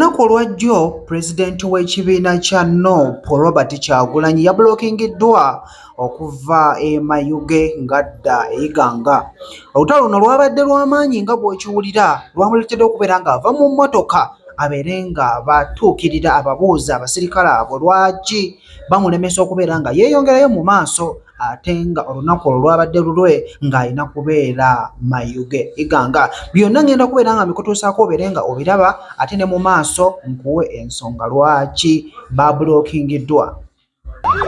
Olunaku olwa ddyo pulezidenti w'ekibiina kya nup Robert Kyagulanyi yabulokingiddwa okuva e Mayuge ng'adda e Iganga. Olutalo luno lwabadde lwa maanyi nga bw'okiwulira lwamuleetedde okubeera ng'ava mu mmotoka abeere nga batuukirira ababuuza abasirikale abo lwaki bamulemesa okubeera nga yeeyongerayo mu maaso ate nga olunaku olwo lwabadde lulwe ng'alina kubeera mayuge iganga byonna ngenda kubeera nga mbikutuusaako obeere nga obiraba ate ne mu maaso nkuwe ensonga lwaki babulokingiddwa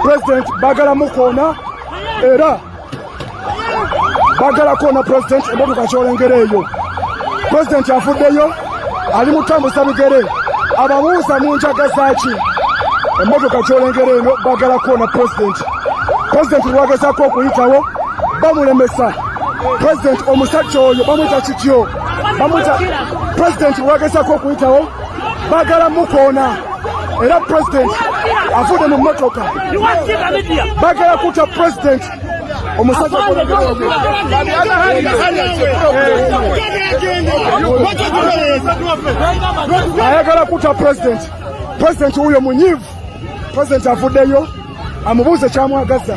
president bagala mukoona era bagala koona president emotoka kyolengera eyo president afuddeyo ali mutambuza bigere ababuuza mu njaga zaaki emmotoka kyolengera eno bagala kuona pulezidenti pulezidenti lwagezako okuyitawo bamulemesa pulezidenti omusajja oyo bamwita kityo bamwita pulezidenti lwagezako okuyitawo bagala mukoona era pulezidenti avude mu mmotoka bagala kuta pulezidenti omusajja ayagala kuta pulezidenti pulezidenti wuyo munyivu pulezidenti avuddeyo amubuuze kyamwagaza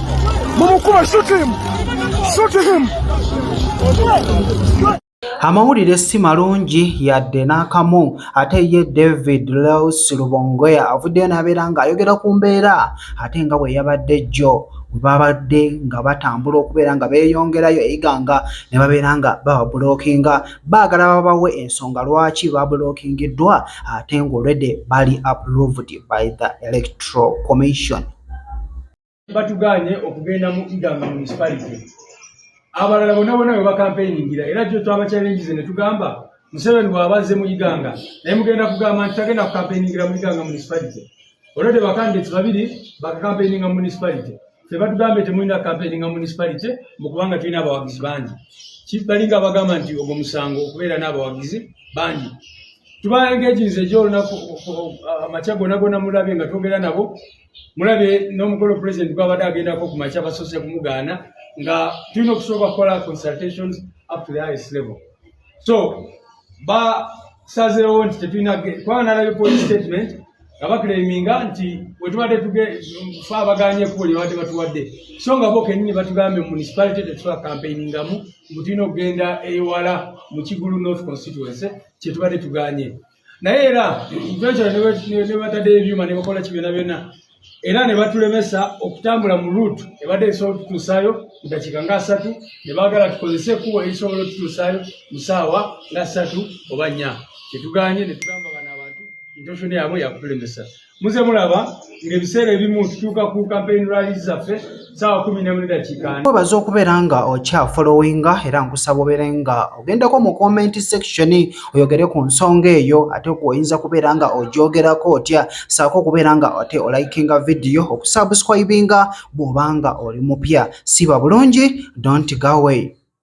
mumukuma shoot him shoot him Amawulire si malungi yadde n'akamu ate ye David Leus Lubongoya avuddeyo n'abeera ng'ayogera ku mbeera ate nga bwe yabadde jjo we babadde nga batambula okubeera nga beeyongerayo e Iganga ne babeera nga bababulookinga baagala babawe ensonga lwaki babulookingiddwa ate ng'olwedde bali approved by the Electoral Commission. batugaanye okugenda mu iganga municipality abalala bona bona bwe bakampeyingira era kyo twabakyalengize ne tugamba museveni bwabazze mu iganga naye mugenda kugamba nti tagenda kukampeyingira mu iganga municipality olwo te bakandidate babiri bakakampeyinga mu municipality fe batugambye temulina kampeyinga mu municipality mukubanga tulina abawagizi bangi balinga abagamba nti ogwo musango okubeera n'abawagizi bangi tubaengejinze gyolunaku amakya gona gona mulabye nga twogera nabo mulabye n'omukolo president gwabadde agendako ku makya basoose kumugaana nga tulina okusooka kukola consultations up to the highest level so basazeewo nti tetulina kubanga nalabye police statement nga bakireminga nti wetubadde tugefa abaganye ekubo lyebadde batuwadde so nga bo kenyini batugambye mu municipality tetusobola campaigningamu mbu tulina okugenda ewala mu kigulu north constituency kyetubadde tuganye naye era eventually nebatadde ebyuma nebakola ki byona byona era nebatulemesa okutambula mu root ebadde esobola otutuusayo mu dakiika nga asatu nebagala tukozese ekubo erisobola otutuusayo mu saawa nga asatu oba nya kyetuganye netugamba bano abantu intosho yabwe yakutulemesa muze mulaba ng'ebiseera ebimu tutuuka ku campaign rallies zaffe saawa kumi nemu nedakiika webaza okubeera nga okya followinga era nkusaba obeere nga ogendako mu comment section oyogere ku nsonga eyo ate oyinza kubeera nga ogyogerako otya saako okubeera nga ate olikinga vidiyo okusubscribinga bw'oba nga oli mupya siba bulungi don't go away